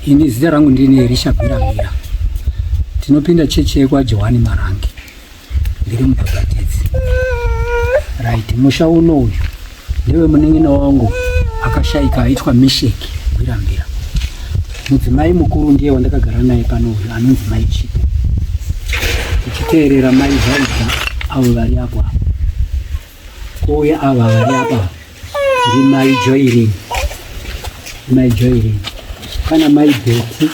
Ini zita rangu ndini Elisha Bhiramira, tinopinda chechi yekwaJohani Marange, ndiri mubhabhatidzi. Right, musha uno uyu Ndiwe munin'ina wangu akashaika aitwa Misheki Gwirambira. Mudzimai mukuru ndiye wandakagara naye pano uyu anonzi Mai Chipo. Uchiteerera Mai Vaida avo vari apo apo. Kuuya ava vari apa ndi Mai Joirini. Mai Joyce kana mai Betty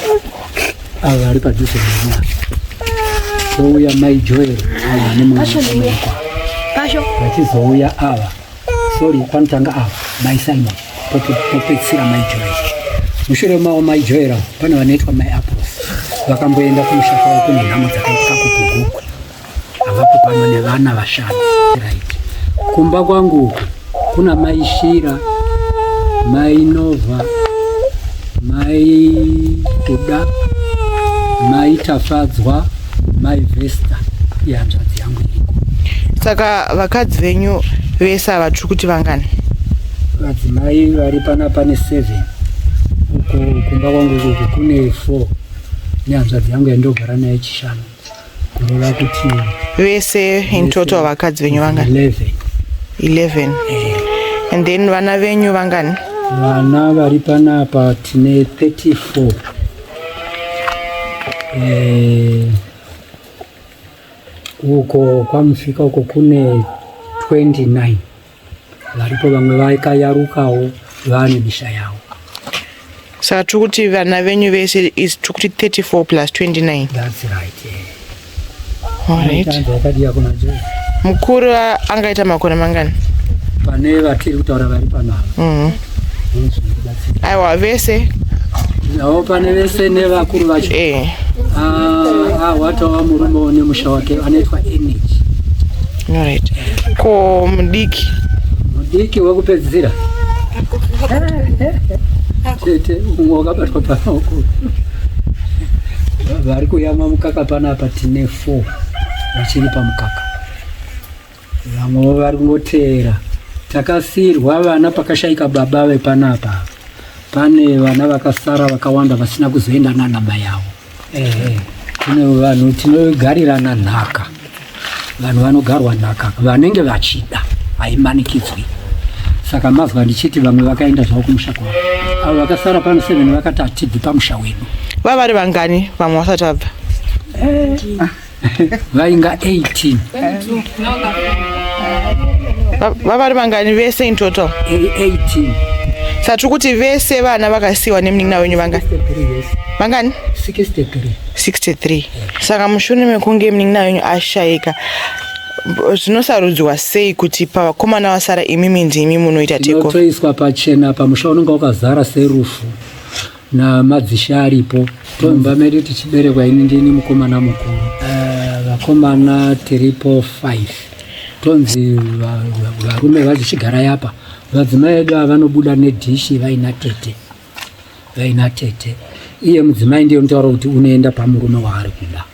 ava vari padhuze nemwana vouya mai Joyce ava nemwana pasho vachizouya ava sorry panotanga ava mai Simon popedzisira mai Joyce mushure mavo mai Joyce ava pane vanoitwa mai Apples vakamboenda kumusha kwavo kune nhamo dzakaitwa kuGugukwe avapo pano nevana vashanu right kumba kwangu uku kuna mai shira mai nova mai kuda mai tafadzwa mai vesta ihanzvadzi yangu iriko saka vakadzi venyu vese ava tiri kuti vangani vadzimai vari pana pane seven uko kumba kwangu uku kune four nehanzvadzi yangu yandogara nayo chishanu vese in total vakadzi venyu vangani 11 and then vana venyu vangani vana vari panapa tine 34 eh, uko kwamusvika uko kune 29 Varipo vamwe vaikayarukawo vane misha yavo. Saka tiri kuti vana venyu vese is tiri kuti 34 plus 29. That's right. Yeah. All right. Vakadiya kuna Jesu. Mukuru angaita makore mangani? Pane vatiri kutaura vari panapa. Mm -hmm. aiwa vese avo pane vese nevakuru vacho eh. ah, ahwatawa murume one musha wake anoitwa energy right ko mudiki mudiki wekupedzisira tete umwe wakabatwa pamaoko vari kuyamwa mukaka panapa tine four vachiri pamukaka Vamwewo vari kungoteera. Takasiirwa vana pakashaika baba vepanapa. Pane vana vakasara vakawanda vasina kuzoenda nana mai avo. Ehe. Tine vanhu tinogarirana nhaka. Vanhu vanogarwa nhaka vanenge vachida haimanikidzwi. Saka mazwa ndichiti vamwe vakaenda zvavo kumusha kwavo. Avo vakasara pano seven vakati hatibvi pamusha wedu. Vava vari vangani vamwe vasati vabva? vainga 18 vavari vangani vese in total 18 satiri kuti vese vana vakasiyiwa nemunin'ina wenyu vangani vangani 63 63 saka mushure mekunge munin'ina wenyu ashayika zvinosarudzwa sei kuti pavakomana vasara imimi ndimi munoita tekotoiswa pachena pamusha unenge wakazara serufu namadzisharipo tomba medu tichiberekwa ini ndini mukomana mukuru eh, vakomana uh, tiripo 5 tonzi varume va, va, vazichigara yapa vadzimai edu ava vanobuda nedhishi vaina tete vaina tete iye mudzimai ndiye unotaura kuti unoenda pamurume waari kuda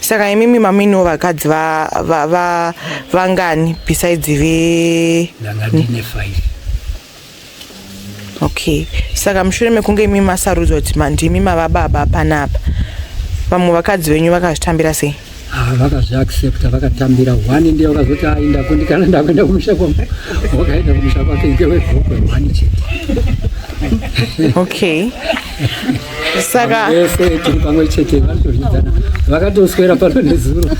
saka imimi maminiwo vakadzi vangani va, va, besides ve okay saka mushure mekunge imi masarudzwa kuti mandimi mava baba panapa vamwe vakadzi venyu vakazvitambira sei ah, vakazviaccepta vakatambira hwani ndiye vakazoti ainda ah, kundikana ndakuenda kumusha kwangu wakaenda kumusha kwake ngewegokwe hwani chete okay saka vese tiri pamwe chete vanotozvidzana vakatoswera pano nezuro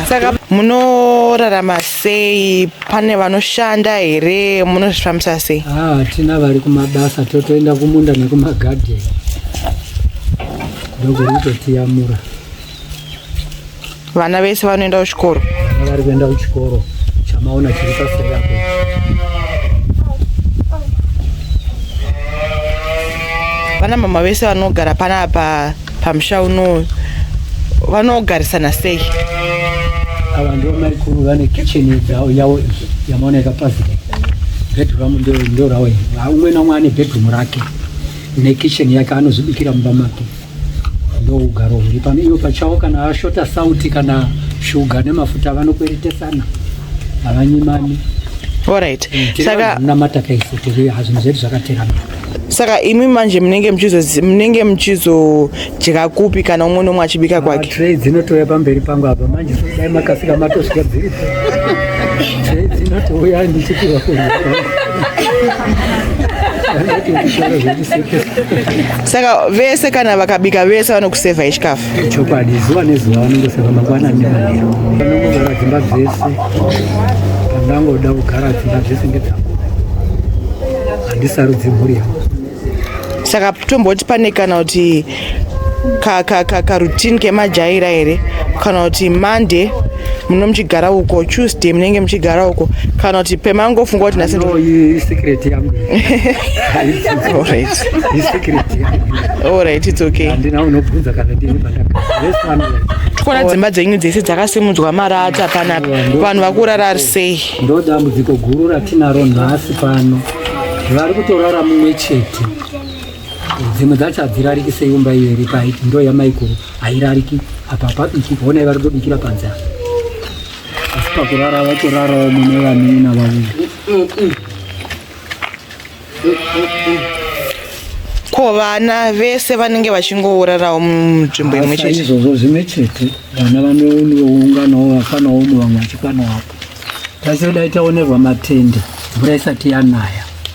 saka munorarama sei pane vanoshanda here munozvifambisa sei ah, hatina ah, vari kumabasa totoenda kumunda nekumagadheni ndokurikutotiyamura vana vese vanoenda kuchikoro vari kuenda kuchikoro chamaona chiri paseri apo vana mama vese vanogara panapa pamusha uno vanogarisana sei ava ndo maikuru vane kitchen yavo yavo yamaona yakapazika bedroom ndo ndo ravo umwe naumwe ane bedroom rake nekitchen yake anozvibikira mumba make ndougaro huri pano ivo pachawo kana vashota sauti kana shuga nemafuta vanokweretesana havanyimani Alright. Mm, saka namata kaisi tiri hazvinhu zvedu zvakaterana. Saka imi manje munenge muchizo munenge muchizo jeka kupi kana umwe nomwe achibika ah, kwake. Tray dzinotouya pamberi pangu apa manje dai makasika matosvika dziri. Tray dzinotouya ndichipirwa kudya. saka vese kana vakabika vese vanokusevha yechikafu chokwadi zuva nezuva vanongoseva mangwana nemanhero vanongogara dzimba dzese pandangoda kugara dzimba dzese ngedzangu handisarudzi mhuri yangu saka tomboti pane kana kuti karutini kemajaira here kana kuti monday muno muchigara uko tuesday munenge muchigara uko kana kuti pemangofunga kuti nhasi Alright, it's okay. Handina unobvunza kana ndini pandaka. Tikuona dzimba dzenyu dzese dzakasimudzwa marata pana vanhu vakurara sei? Ndo dambudziko guru ratinaro nhasi pano. Vari kutorara mumwe chete. Dzimwe dzacho hadzirariki seimba iyo iri paiti ndo yamaiguru hairariki apa pabiki kuona ivari kutobikira panze apa. Asi pakurara vatorarawo mune vanina vaviri. ko vana vese vanenge vachingourarawo munzvimbo imwe chete izvozvo zvimwe chete vana vanounganawo vafanawo umwe vamwe vachikwana wapo taisoda itaonerwa matende mvura isati yanaya